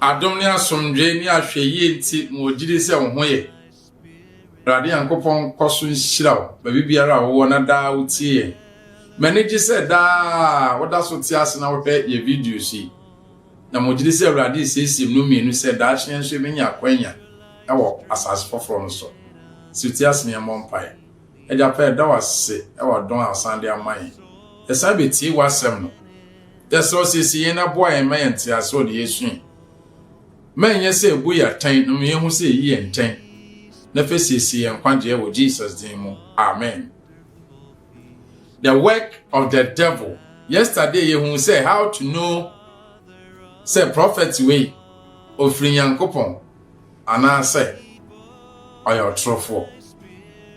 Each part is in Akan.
Adom ne asomdwee ne ahwɛyie nti ma wɔgyidi sɛ wo ho yɛ. Awurade Nyankopɔn nkɔso nhyira wo baabi biara a wowɔ na daa wotie yɛn. M'ani gye sɛ daa woda so te ase na wohwɛ yɛ videos yi. Na mogyidi sɛ Awurade resiesie mu no mmienu sɛ daakye yɛn nso yɛbɛnya akwanya wɔ asase foforɔ no so. Sɛ wotie ase na yɛmmɔ mpaeɛ. Agya pa yɛda wo ase wɔ adom a wosan de ama yɛn. Yɛsan betiee woasɛm no. Yɛsrɛ wo siesie yɛn na boa yɛn ma yɛn ntease wɔ nea yɛresua yi mu. Ma ɛnyɛ sɛ ebu yɛn atɛn na ma yɛnhu sɛ eyi yɛ ntɛn na fa siesie yɛn nkwagyeɛ wɔ Jesus din mu. Amen. The work of the devil. Yesterday yɛhuu sɛ how to know sɛ prophet wei ofiri Nyankopɔn. anaasɛ ɔyɛ ɔtorofoɔ.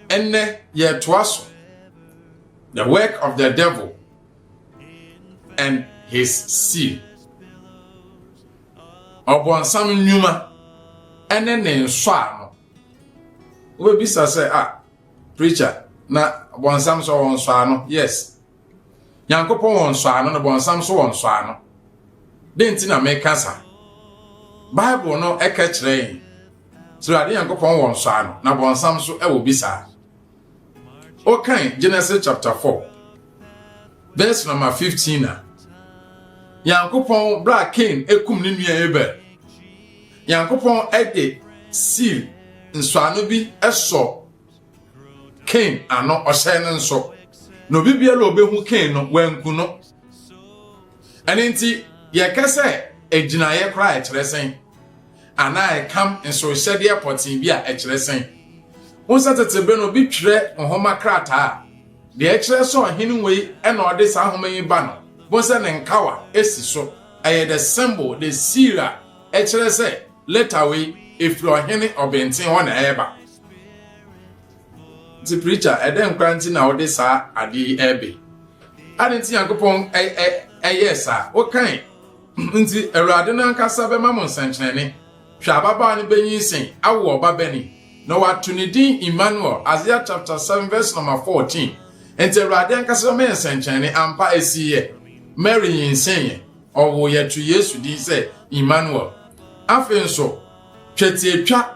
Ɛnnɛ yɛretoa so The Work of the Devil and His Seal, Ɔbonsam Nnwuma ne Ne Nsɔano. Wobɛbisa sɛ, ah, preacher, na ɔbonsam nso ɔwɔ nsɔano? Yes. Nyankopɔn wɔ nsɔano na Bɔnsam nso wɔ nsɔano. Dɛn nti na meka sa? Bible no ɛka kyerɛ yɛn sɛ Awurade Nyankopɔn wɔ nsɔano na Bɔnsam nso ɛwɔ bi saa. Wokan Genesis chapter 4 verse number 15 a Nyankopɔn bra Cain ekum ne nua Abel. Nyankopɔn ɛde seal nsɔano bi ɛsɔ Kain ano ɔhyɛ no nso, na obi biara a obehu Kain no wanku no. Ɛno nti, yɛka sɛ agyinaeɛ koraa a ɛkyerɛ sɛn? Anaa ɛkam nsohyɛdeɛ pɔtee bi a ɛkyerɛ sɛn? Ho sɛ tete bere no bi twerɛ nhoma krataa a deɛ ɛkyerɛ sɛ ɔhene wei na ɔde saa nhoma yi ba no, bo sɛ ne nkawa si so. Ɛyɛ the symbol, the seal a ɛkyerɛ sɛ Leta wei ɛfiri ɔhene ɔbenten hɔ na ɛreba. Nti preacher ɛdɛn koraa nti na wode saa adeɛ yi ɛrebe ade nti nyankopɔn ɛyɛɛ saa wokan nti awurade no ankasa bɛma mo nsɛnkyerɛnne hwɛ ababaa no bɛnyin sen awo ɔba bɛni na wato ne din Emmanuel Isaiah chapter 7 verse number 14 nti awurade ankasa bɛma yɛ nsɛnkyerɛnne ampa ɛsiiɛ Mary nyinsɛnyɛ Ɔwoo yɛn too Yesu din sɛ Immanuel. Afei nso, twetiatwa,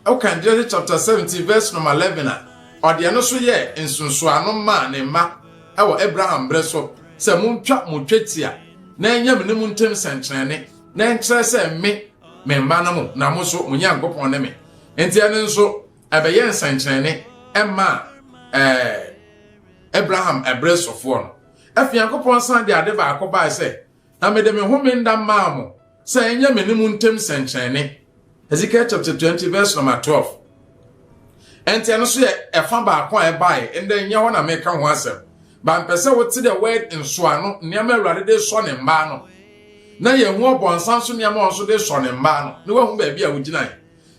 wokan Genesis chapter seventeen verse number eleven a, ɔde ɛno nso yɛɛ nsunsuano maa ne mma wɔ Abraham bere so sɛ, Montwa mo twetia na ɛnyɛ me ne mo ntam sɛnkyerɛnne, na ɛnkyerɛ sɛ me, me mma no mo, na mo nso, mo Nyankopɔn ne me. Enti ɛno nso, ɛbɛyɛɛ nsɛnkyerɛnne maa ɛɛ Abraham bere sofoɔ no. Afei Nyankopɔn san de ade baako bae sɛ, Na mede me home nna maa mo sɛ ɛnyɛ me ne mo ntam sɛnkyerɛnne. Hesekiel chapter 20 verse number 12 Ɛnti ɛno nso yɛ ɛfa baako a ɛbae, ɛnde ɛnyɛ hɔ na meka ho asɛm. Ba mpɛ sɛ wote the word nsoano, nneɛma Awurade de sɔ ne mmaa no, na yɛahu ɔbɔnsam nso nneɛma ɔnso de sɔ ne mmaa no, na woahu baabi a wogyinae.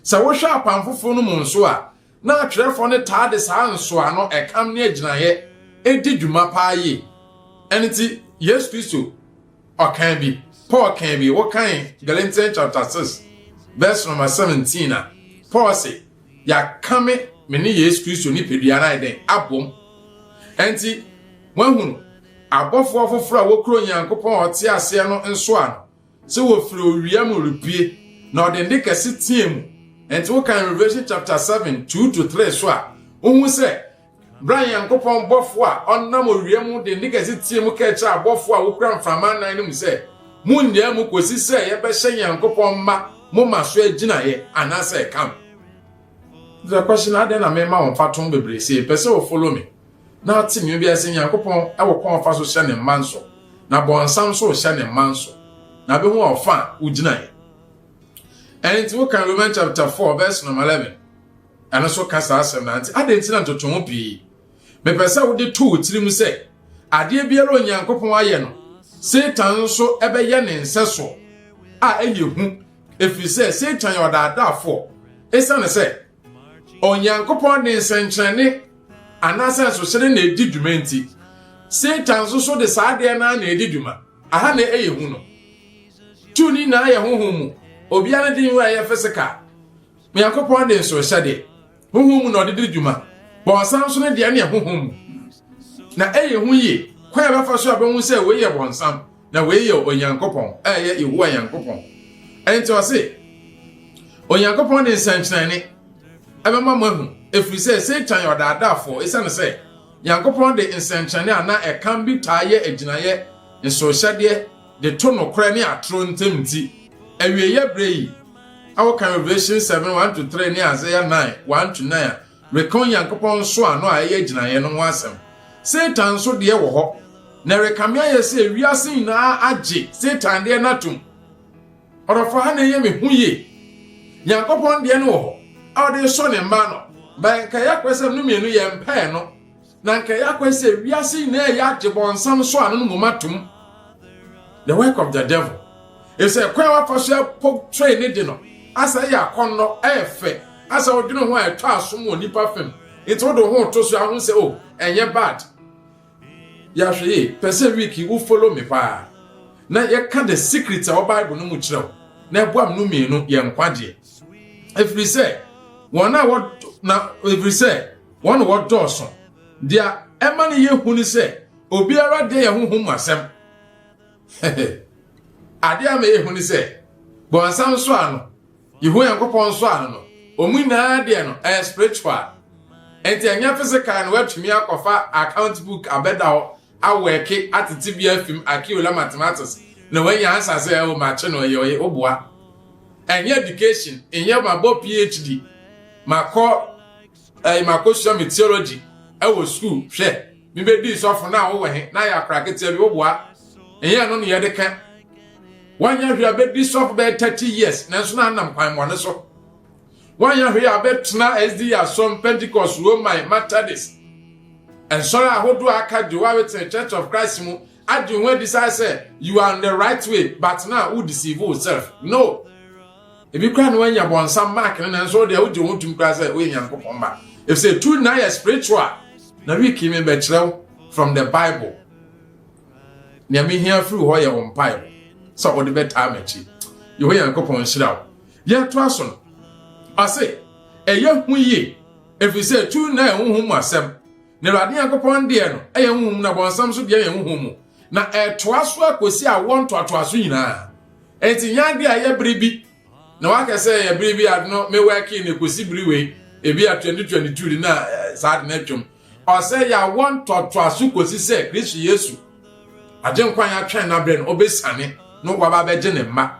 Sɛ wohwɛ apam foforo no mu nso a, Ná atwerɛfoɔ no taa de saa nsɔano, ɛkam ne agyinaeɛ di dwuma paa yie. Ɛno nti, Yesu Kristo ɔkaa bi, Paul kaa bi, wokan Galatians chapter 6 verse number 17 a, Paul se, Yɛakame me ne Yesu Kristo nipadua no ayɛ dɛn? Abom. Ɛnti, moahunu, abɔfoɔ foforɔ a wɔkura Onyankopɔn a ɔte aseɛ no nsɔano, sɛ wɔfiri owia mu repue, na ɔde nne kɛse teɛ mu. Ɛnti wokan Revelation chapter 7, 2-3 so a, wohu sɛ berɛ a Nyankopɔn bɔfoɔ a ɔnam owia mu de nne kɛse teɛ mu kɛkyɛ abɔfoɔ a wokura mframa nan no mu sɛ, Monnyaa mu kɔsi sɛ yɛbɛhyɛ Nyankopɔn mma mo ma so agyinaeɛ, anaasɛ ɛka mo. The question, Adɛn na mema wo mfatoho bebree sei? Pɛ sɛ wo follow me? Na ɔte nea obiara sɛ Nyankopɔn wɔ kwan a ɔfa so hyɛ ne mma nso, na Bɔnsam nso rehyɛ ne mma nso, na bɛhu a ɔfa a wogyinae. Ɛno nti wokan Roman chapter 4 verse number 11, ɛno nso ka saa asɛm no ara nti, adɛn nti na ntotoho pii? Mepɛ sɛ wode to wo tirim sɛ, adeɛ biara a Onyankopɔn ayɛ no, Satan nso ɛbɛyɛ ne nsɛsoɔ a ɛyɛ hu, ɛfiri sɛ Satan yɛ ɔdaadaafoɔ, ɛsiane sɛ Onyankopɔn de nsɛnkyerɛnne anaasɛ nsohyere na edi dwuma nti, Satan nso so de saa adeɛ no ara na edi dwuma. Aha na ɛyɛ hu no. Two no nyinaa yɛ honhom mu. Obiara ne de nhu a ɛyɛ physical. Onyankopɔn de nsohyɛdeɛ, honhom mu na ɔde di dwuma. Bɔnsam nso ne deɛ no yɛ honhom mu. Na ɛyɛ hu yie. Kwan a ɛbɛfa so a bɛhu sɛ wei yɛ bɔnsam. Na wei yɛ Onyankopɔn a ɛyɛ Yehowa Nyankopɔn. Ɛnti ɔse, Onyankopɔn de nsɛnkyerɛnne ɛbɛma mo ahu, ɛfiri sɛ Satan yɛ ɔdaadaafoɔ, ɛsiane sɛ Nyankopɔn de nsɛnkyerɛnne anaa ɛkan bi taa yɛ agyinaeɛ nsohyɛdeɛ de to nokorɛ ne atoro ntam nti. Awieeɛ berɛ yi, wokan Revelation 7, 1-3 ne Isaiah 9, 1-9 a, reka Onyankopɔn nsɔano a ɛyɛ gyinaeɛ no ho asɛm. Satan nso deɛ wɔ hɔ, na ɛrekame ayɛ sɛ wiase nyinaa agye Satan deɛ no atom. Ɔdɔfo ha na ɛyɛ me hu yie. Nyankopɔn deɛ no wɔ hɔ a ɔde resɔ ne mma ano, ba nka yɛakwasɛm no mmienu yɛmpɛɛ no. na anka ɛyɛ akwan sɛ wiase nyinaa ɛyɛ agye bɔnsam so ano no mu ma tom. The work of the devil. Ɛsɛ ɛkwan a wafa so ɛpo train ne de no, asa ɛyɛ akɔnnɔ, ɛyɛ fɛ, asa ɔdwene ho a ɛtɔ asom wɔ nipa fam, nti wode ho to so ahu sɛ oh ɛnyɛ bad. Yɛahwɛ yie, pɛ sɛ week yi wo follow me paa na yɛka the secret a wɔ Bible no mu kyerɛ wo na ɛboa mno mmienu yɛ nkwagyeɛ. Ɛfiri sɛ wɔn a wɔ na ɛfiri sɛ Wɔn na wɔdɔɔso. Deɛ ɛma no yɛ hu ne sɛ, obiara deɛ yɛ honhom mu asɛm. Adeɛ ama yɛ hu ne sɛ, bɔnsam nso ano, Yehowa Nyankopɔn nso ano no, wɔn nyinaa deɛ no ɛyɛ spiritual. Nti ɛnyɛ physical na wɔatumi akɔfa account book abɛda hɔ awɛke atete bi afim akiola mathematics na wɔanya ansa sɛ ɛwɔ makye no ɛyɛ ɔyɛ woboa. Ɛnyɛ education, ɛnyɛ mabɔ PhD, makɔ Ɛɛ makosua me theology ɛwɔ school hwɛ me bɛdii sɔfo na wowɔ he na yɛ akora keteɛ bi woboa ɛnyɛ ɛno ne yɛde ka wanyɛ hwee abɛdi sɔfo bɛyɛ 30 years nanso na anam kwan mmɔne so wanyɛ hwee abɛtena SDA asɔm Pentecost Roman Methodist nsɔre ahodoɔ a aka gye wawetene Church of Christ mu agye ho adi saa sɛ you are on the right way but na wo deceive yourself no Ebi koraa na wɔanya bɔnsam mark no nanso wo deɛ wogye wo ho tom koraa sɛ woyɛ Nyankopɔn mma. Efisɛ tu nyinaa yɛ spiritual. Na week yi mebɛkyerɛ wo from the Bible. Nea mehia firi hɔ yɛ wo mpaebɔ sɛ wode bɛtaa m'akyi. Yehowa Nyankopɔn nhyira wo. Yɛtoa so no, ɔse, ɛyɛ hu yie ɛfiri sɛ tu nyinaa yɛ honhom mu asɛm. Na Awurade Nyankopɔn deɛ no ɛyɛ honhom na bɔnsam so deɛ yɛ honhom mu. Na ɛtoa so akɔsi awoɔ ntoatoaso nyinaa. Enti nyɛ ade a ɛyɛ bere bi na woaka sɛ ɛyɛ bere bi ade no mewɛkee no ekosi bere wei, ebi a 2022 de na eh, saa ade no atwam. Ɔsɛ yɛawɔ ntɔtoaso kosi sɛ Kristo Yesu, Agyenkwa a yɛatwɛn n'abrɛ no, obesiane no waba abɛgye ne mma.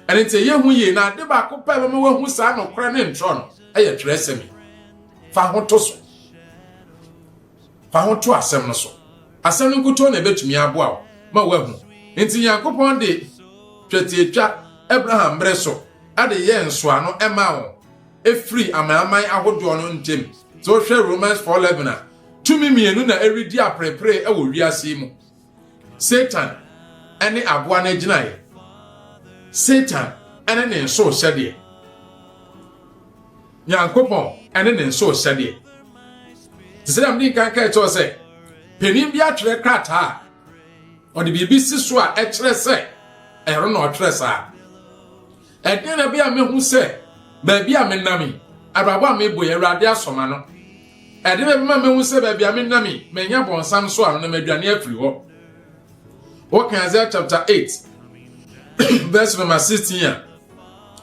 Ɛno nti ɛyɛ hu yie, na ade baako pɛ a ɛbɛma woahu saa nokorɛ ne ntorɔ no yɛ twerɛsɛm yi. Fa ho to so. Fa ho to asɛm no so. Asɛm no nkutoo na ebetumi aboa wo ma woahu. Enti Nyankopɔn de twetiatwa Abraham mmere so de yɛɛ nsɔano maa wɔn firi amanaman ahodoɔ no ntam. Sɛ wohwɛ Romans four eleven a, tumi mmienu na ɛredi aperepere wɔ wiase yi mu. Satan ne aboa no agyinaeɛ. Satan ne ne nso hyɛdeɛ. Nyankopɔn ne ne nso hyɛdeɛ. Te sɛ dɛm de nkan ka ɛkyɛw sɛ panin bi atwerɛ krataa a ɔde biribi si so a ɛkyerɛ sɛ ɛno na ɔtwerɛ saa. Ɛdeɛn na ɛbɛyɛ a mɛhu sɛ baabi a menam yi, abrabɔ a mebɔ yi, Awurade asɔ m'ano? Ɛdeɛn na ɛbɛma mɛhu sɛ baabi a menam yi, manya bɔnsam so ano na madwane afiri hɔ? Wokan Isaiah chapter 8 verse number 16 a,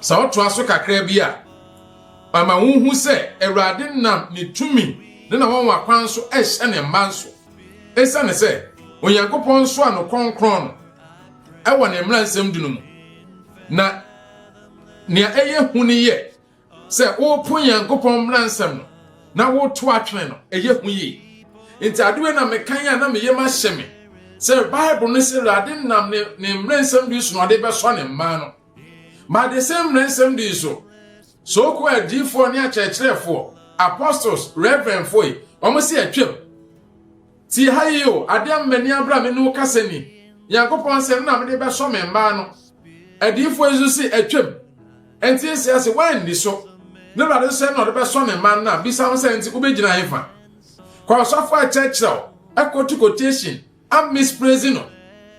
sɛ wotoa so kakra bi a, ama wohu sɛ Awurade nam ne tumi ne na wɔn akwan so ɛhyɛ ne mma nso. Esiane sɛ Onyankopɔn nso ano kronkron no, ɛwɔ ne mmara nsɛm du no mu. Na nea ɛyɛ hu ne yɛ sɛ wopo Nyankopɔn mmara nsɛm no na woto atwene no, ɛyɛ hu yie. Nti adeɛ na mekan a na meyɛ mahyɛ me sɛ Bible no sɛ Awurade nam ne ne mmara nsɛm du so na ɔde bɛsɔ ne mmaa no. Ma de sɛ mmara nsɛm du so, sooko adiifoɔ ne akyerɛkyerɛfoɔ, apostles, reverendfoɔ yi, wɔn sɛ atwam. Tie ha yi o, ade ama m'ani abere a me ne wo kasa ni. Nyankopɔn nsɛm na mede bɛsɔ me mma ano. Adiyifoɔ yi nso se atwam. Enti ese ase, woanni so. Ne Awurade nso sɛ na ɔde bɛsɔ ne mma ano a, bisa ho sɛ, enti wobɛgyina hefa? Kɔ ɔsɔfo a ɛkyerɛkyerɛ wo, ɛkɔtu quotation a mispraise no,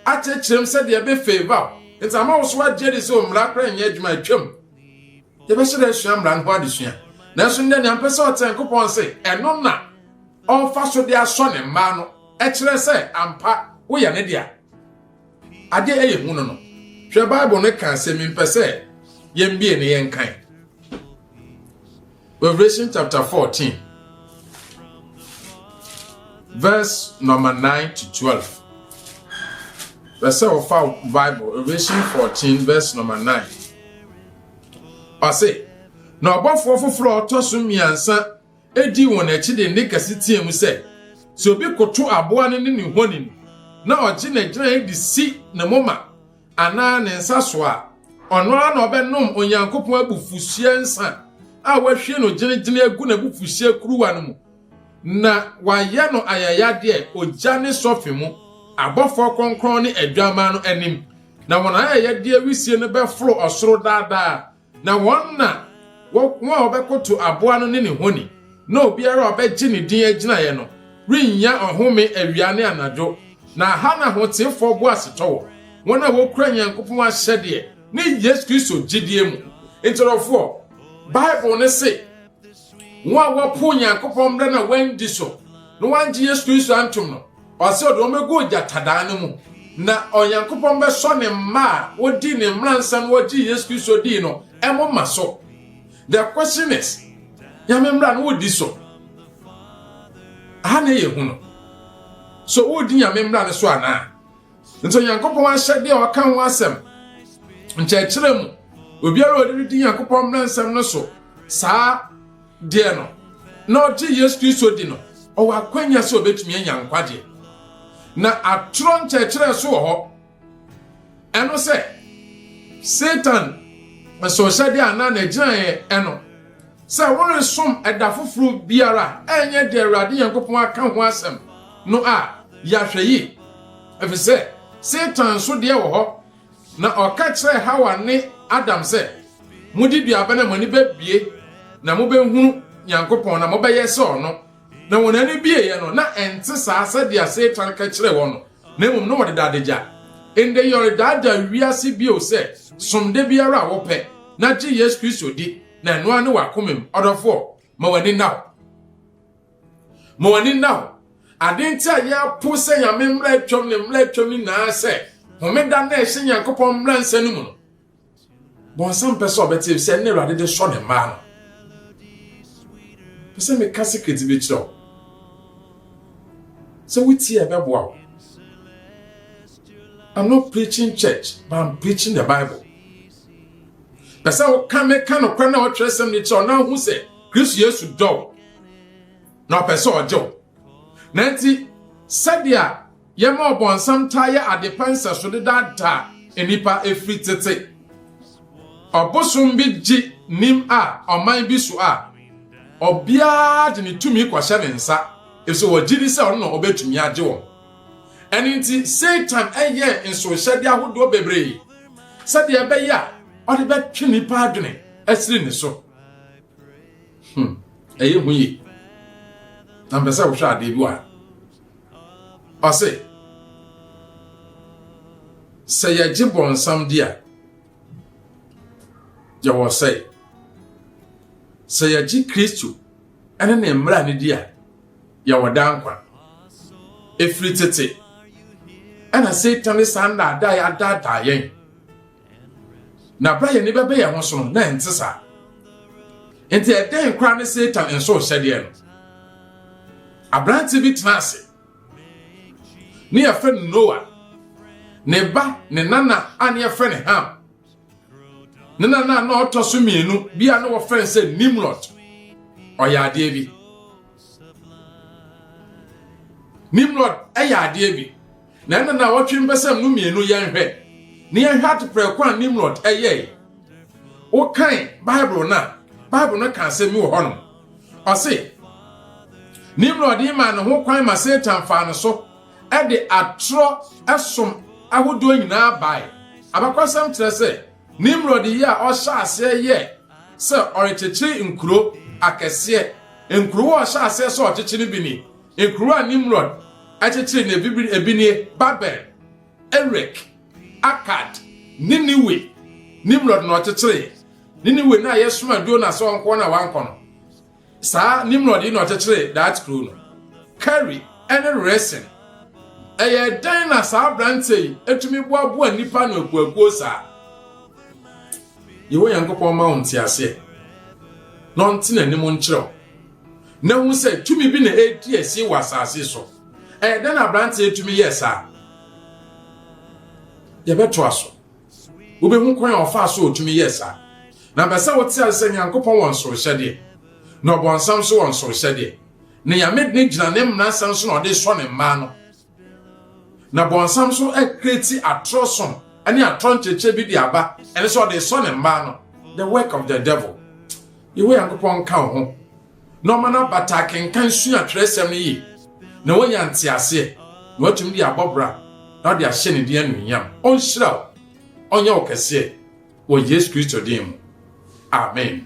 akyerɛkyerɛ mu sɛdeɛ ɛbɛ favour wo, enti ama wo so agye adi sɛ o mmara koraa nyɛ adwuma, atwam. Yɛbɛhyɛ da asua mmara no ho adesua. Nanso nnɛ nea mpɛ sɛ ɔte Nyankopɔn se ɛno na ɔmfa so de asɔ ne mmaa no kyerɛ sɛ ampa woyɛ ne dea. Ade a ɛyɛ hu no no, hwɛ Bible no ka asɛm yi mpɛ sɛ yɛmbie ne yɛnkan. Revelation chapter 14 verse number 9 to 12. Pɛ sɛ ɔfa Bible Revelation 14 verse number 9. Ɔse, Na ɔbɔfoɔ foforɔ a ɔtɔ so mmiɛnsa dii wɔn akyi de nne kɛse teɛ mu sɛ, Sɛ obi koto aboa no ne ne honi no, na ɔgye n'agyiraeɛ de si ne moma anaa ne nsa so a, ɔno ara na ɔbɛnom Onyankopɔn abufuhyeɛ nsã a wɔahwie no gyenegyene agu n'abufuhyeɛ kuruwa no mu. Na wɔayɛ no ayayadeɛ ogya ne sɔfe mu, abɔfoɔ kronkron ne Adwammaa no anim, na wɔn ayayadeɛ wisie no bɛforo ɔsoro daa daa, na wɔn na wɔn a wɔbɛkoto aboa no ne ne honi, na obiara a ɔbɛgye ne din agyinaeɛ no rennya ɔhome awia ne anadwo. Na ha na ahoteefoɔ boasetɔ wɔ, wɔn a wɔkura Nyankopɔn ahyɛdeɛ ne Yesu Kristo gyidie mu. Nkyerɛwfoɔ, Bible no se. Wɔn a wɔpo Onyankopɔn mmara na wɔandi so, na wɔangye Yesu Kristo antom no, ɔsɛ ɔde wɔn bɛgu ogyatadaa no mu, na Onyankopɔn bɛsɔ ne mma a wɔdii ne mmara nsa na wɔgyee Yesu Kristo dii no moma so. The question is, Nyame mmara no wodi so? Aha na ɛyɛ hu no. So wodi Nyame mmara no so anaa? nti onyankopɔn ahyɛdeɛ a ɔka ho asɛm nkyerɛkyerɛ mu obiara a ɔde no di nyankopɔn mmara nsɛm no so saa deɛ no na ɔgye yesu kristo di no ɔwɔ akwanya sɛ ɔbɛtumi anya nkwagyeɛ na atorɔ nkyerɛkyerɛ so wɔ hɔ ɛno sɛ satan nso hyɛdeɛ anaa n'agyinaeɛ ɛno Sɛ woresom ɛda foforo biara a ɛnyɛ deɛ Awurade Nyankopɔn aka ho asɛm no a, yɛ ahwɛyie, ɛfiri sɛ Satan nso deɛ wɔ hɔ, na ɔka kyerɛɛ Hawa ne Adam sɛ, Modi dua bɛ na mo ani bɛbue, na mobɛhunu Nyankopɔn, na mobɛyɛ sɛ ɔno. Na wɔn ani bueeɛ no, na ɛnte saa sɛdeɛ Satan ka kyerɛɛ wɔn no, na mmom na wɔdeda adagya. Ɛnde yɛredaadaa wiase bio sɛ, Som da biara a wopɛ, na gye Yesu Kristo di. na ɛno ara ne w'akomam ɔdɔfoɔ ma w'ani nna hɔ ma w'ani nna hɔ ade nti a yɛapo sɛ nyame mmra atwam ne mmra atwam no nyinaa sɛ homeda na ɛhyɛ nyankopɔn mmra nsa no mu no bɔnsam pɛ sɛ ɔbɛte sɛ ne awurade de sɔ ne mmaa no pɛ sɛ meka secret bi kyerɛ wo sɛ wotie a ɛbɛboa wo I'm not preaching church, but I'm preaching the Bible. pɛ sɛ woka ne ka nokware na ɔtwerɛ sɛm no kyerɛ ɔna hu sɛ kristo yesu dɔ wo na ɔpɛ sɛ ɔgye wo na nti sɛdeɛ yɛma ɔbɔnsam taa yɛ adepa nsɛso de daadaa nnipa ɛfiri tete ɔbosom bi gye nim a ɔman bi so a ɔbiara de ne tumi kɔhyɛ ne nsa ɛfisɛ wɔgye di sɛ ɔno na ɔbɛtumi agye wɔn Ɛno nti, Satan yɛɛ nsohyɛde ahodoɔ bebree sɛdeɛ ɛbɛyɛ a ɔde bɛtwe nnipa adwene asiri ne so. Hmm, ɛyɛ hu yie. Na mpɛ sɛ wohwɛ adeɛ bi wɔ ha. Ɔse, sɛ yɛgye bɔnsam di a, yɛwɔ sɛe. Sɛ yɛgye Kristo ne ne mmara no di a, yɛwɔ daa nkwa. Ɛfiri tete ɛna Satan ne saa nnaadaa adaadaa yɛn. Na berɛ a yɛne bɛbɛ yɛn ho so no, na ɛnte saa. Nti ɛdɛn koraa ne Satan nso hyɛdeɛ no? Aberante bi tena ase ne yɛfrɛ no Noa ne ba ne nana a ne yɛfrɛ no Ham ne nana a na ɔtɔ so mmienu bi a na wɔfrɛ no sɛ nimrod ɔyɛ adeɛ bi nimrod ɛyɛ adeɛ bi na ɛna na wɔtwe mpɛsɛm no mmienu yɛnhwɛ ne yɛnhwɛ ateprɛ kwan nimrod ɛyɛe wokan bible no a bible no ka asɛm mi wɔ hɔ no ɔse nimrod yi maa ne ho kwan ma satan faa no so de atoro som ahodoɔ nyinaa bae. Abakɔsɛm kyerɛ sɛ Nimrod yɛ a ɔhyɛɛ aseɛ yɛɛ sɛ ɔrekyekyere nkuro akɛseɛ. Nkurow a ɔhyɛɛ aseɛ sɛ ɔkyekye no bi ni, Nkurow a Nimrod kyekyere no bi ebi nie, Babel, Erek, Akkad, Niniwe. Nimrod na ɔkyekyereeɛ Niniwe no a yɛsomaa Jona sɛ ɔnkɔ na wankɔ no. Saa Nimrod yi na ɔkyekyeree Daat kurow no. Kari ne Resin. Ɛyɛɛ dɛn na saa aberanteɛ yi tumi boaboa nnipa ano akuakuo saa? Yehowa Nyankopɔn ma wo nteaseɛ na ɔnte n'anim nkyerɛ wo na hu sɛ tumi bi na ɛredi asie wɔ asase so. Ɛyɛ dɛn na aberanteɛ tumi yɛɛ saa? Yɛbɛtoa so. Wubehu kwan a ɔfaa so a otumi yɛɛ saa. Na bɛ sɛ wote ase sɛ Nyankopɔn wɔ nsorhyɛdeɛ, na ɔbɔnsam nso wɔ nsorhyɛdeɛ. Ne Nyame dene gyina ne mmransɛm so na ɔde sɔ ne mmaa no. Na bɔnsam nso akreati atorɔ som ne atorɔ nkyerɛkyerɛ bi de aba, ɛne sɛ ɔde sɔ ne mmaa no. The work of the devil. Yehowa Nyankopɔn nka wo ho. na ɔma no abata akenkan sua twerɛsɛm no yie, na wanya nteaseɛ, na watumi de abɔ bra, na ɔde ahyɛ ne din anuonyam. Ɔnhyira wo, ɔnyɛ wo kɛseɛ, wɔ Yesu Kristo din mu, amen.